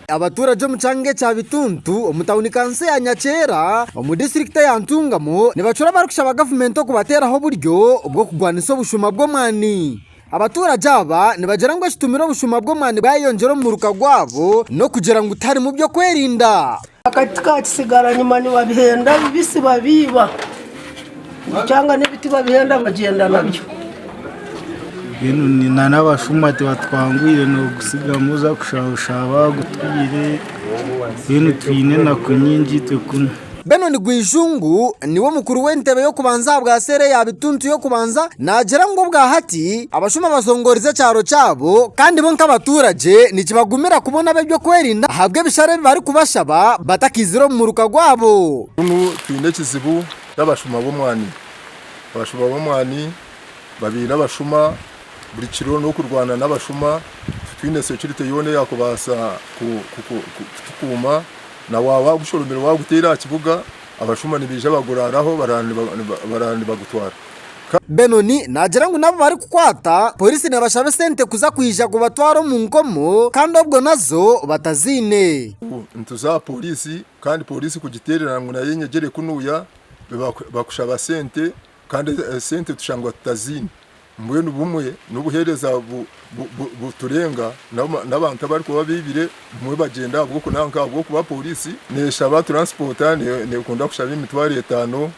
Abaturage omu kyanga ekya Bituntu omu tawuni kansi eya Nyakyera omu disiturikiti eya Ntungamo nibacura barikushaba gavumenti okubateeraho oburyo bw'okurwanisa obushuma bw'omwani. Abaturage aba nibagira ngu ekitumire obushuma bw'omwani bwayeyongyera omu muruka gwabo n'okugira ngu tiharimu by'okwerinda. Akati ka kitsigaranima nibabihenda bibisi babiiba, bukyanga n'ebiti babihenda bagyenda nabyo. Mbwenu ni- na n'abashuma tibatwangwire noogutsigamu oza kushaaha oshaaha baagutwire mbwenu twine enaku nyingi itwe kunu. Benon Gwijungu niwe mukuru w'entebe y'okubanza aha bwa seera eya Bituntu y'okubanza naagira ngu obwahati, Abashuma bazongoorize ekyaro kyabo kandi bo nk'abaturagye nikibagumira kubona ab'ebyokwerinda ahabw'ebishare ebi barikubashaba batakaizire omu muruka gwabo. Kunu twine ekizibu n'abashuma b'omwani. Abashuma b'omwani babaire abashuma buri kiro n'okurwana n'abashuma titwine securite yoona eyaakubaasa kutukuuma na waaba waagushohomire waaguteera aha kibuga abashuma nibaija baguraaraho baraara nibagutwara. Benon naagira ngu n'abu barikukwata, poriisi neebashaba esente kuza kwija kubatwara omu nkomo kandi obwo nazo bataziine. Nituza aha poriisi kandi poriisi kugiteerera ngu nayo enyegyere kunuuya, bakushaba sente kandi esente tushangwa tutaziine. Mbwenu bumwe n'obuheereza buturenga, n'abantu abarikuba baibire bumwe bagyenda ahabw'okunaanka ahabw'okuba poriisi neeshaba turansipoota, neekunda kushaba emitwaro etaano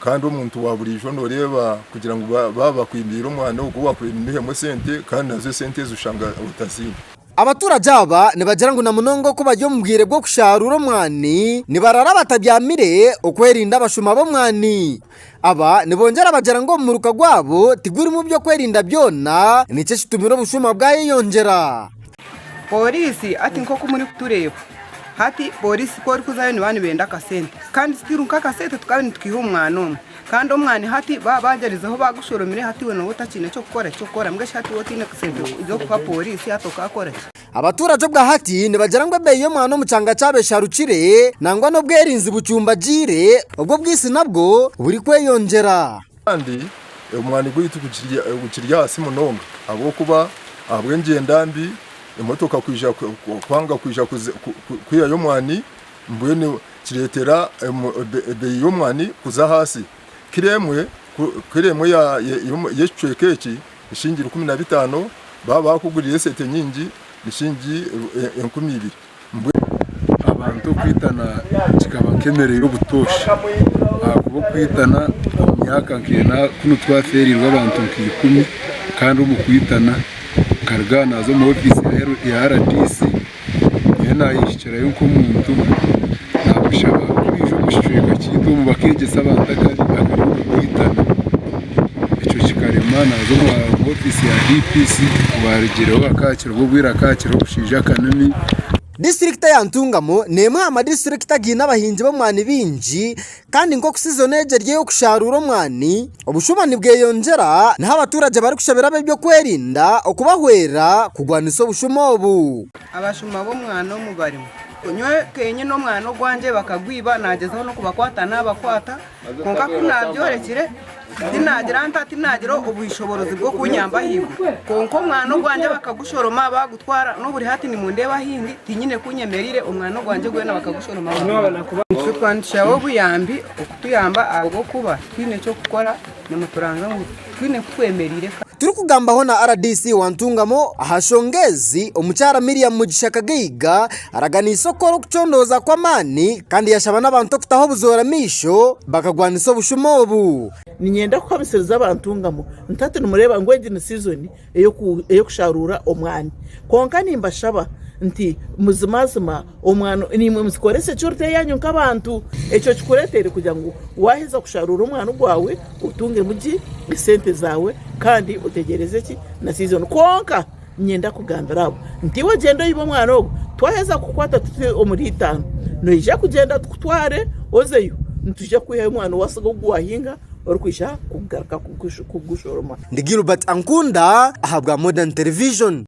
Kandi omuntu wa buriijo noreeba kugira ngu baaba bakwimbiire omwana ogwo wakwimihemu esente kandi nazo esente ezo oshanga otaziine. Abaturage aba nibagira ngu na munonga ku bari omu bwire bw'okusharuura omwani nibarara batabyamire okwerinda abashuma b'omwani. Aba nibongyera bagira ngu omuruka gwabo tigurimu by'okwerinda byona nikyo ekitumire obushuma bwayeyongyera. Pooriisi, Hati nk'oku murikutureeba hati, pooriisi ku orikuzayo nibaba nibenda akasente kandi sitiiru nk'akasente tukaba nitukaiha omu mwana omwe. Kandi omwani hati baba baagyerizeho baagushoromire hati iwe nooba otakiine ky'okukora eki kukora mbwenu shi hati iwe otaine sente z'okuha pooriisi hati okaakora ki? Abaturage obwa hati nibagira ngu ebeeyi y'omwana omu kyanga kyabo esharukire nangwa n'obwerinzi bucumbagiire, obwo obwisi nabwo burikweyongyera. Kandi omwani gwaitu gukiri ahansi munonga ahabw'okuba ahabw'engyenda mbi, emotoka kwanga kwija kwihayo omwani, mbwenu kireetera ebei y'omwani kuza ahansi. Kiro emwe, kiro emwe y'ekicweka eki, eshingiri ikumi na bitaano, baaba baakuguriire esente nyingi, eshingiri enkumi ibiri. Mbwenu abantu okwitana kikaba nk'emere y'obutooshi ahakuba okwitana omu myaka nk'ena kunu twafeereirwe abantu nka ikumi kandi omu kwitana nkaruga aha naaza omu ofiisi ya rdc nyowe naayehikirayo nk'omuntu naakushaba kwija omu kicweka kyaitu omu bakeegyesa abantu akari okwitana ekyo kikarema naaza omu ofiisi ya DPC obwo arugireho akaaky Nibwo bwire akaakira omushaija akanyami. Disiturikita ya Ntungamo n'emwe aha madistrikt againe abahingi b'omwani baingi kandi nk'oku sizoni egi eri ey'okusharuura omwani, obushuuma nibweyongyera niho abaturage barikushabira ab'ebyokwerinda okubahwera kugwanisa obushuuma obu. Abashuuma b'omwani omu barimu. Nyowe kenyine omwani ogwangye bakagwiba, nagyezaho n'okubakwata nabakwata. Kwonka ku naabyorekire, tinaagira nta? Tinaagira obwishoborozi bw'okunyamba ahaiguru? Kwonka omwana ogwangye bakagushoroma baagutwara, n'oburi hati nimundeeba ahi ndi, tinyine ku nyemereire, omwana ogwangye gwena bakagushoroma baagutwara. Nitwe twanikiraho obuyambi okutuyamba ahabw'okuba twine eky'okukora, nimuturanzya ngu. Twine ku twemereire ka. Turikugambaho na rdc wa Ntungamo aha nshonga ezi, omukyara Miriam Mugisha Kagaiga araganiise okukora okucondooza kw'amaani kandi yashaba n'abantu okutaho obuzoora amaisho bakagwanisa obushuma obu. Niinyenda kuhamisiriza aba Ntungamo nti hati nimureeba ngu egi ni sizoni ey'okusharuura omwani. Kwonka nimbashaba nti muzimazima omwani nimwe muzikoresa ekyo oriteho yanyu nk'abantu. Ekyo kikureetere kugira ngu waaheza kusharuura omwani gwawe otungemu ki? Esente zaawe kandi otegyereeze ki? Na sizoni. Kwonka niinyenda kugambira abo nti iwe gyenda oyibe omwani ogwo twaheza kukukwata tuti omuri itaano noija kugyenda tukutware ozeyo nitwija kukwihayo omwani owaasiga ogu waahinga. orikwija kugaruka kugushoroma. Ndi Gilbert Ankunda ahabwa Modern Television.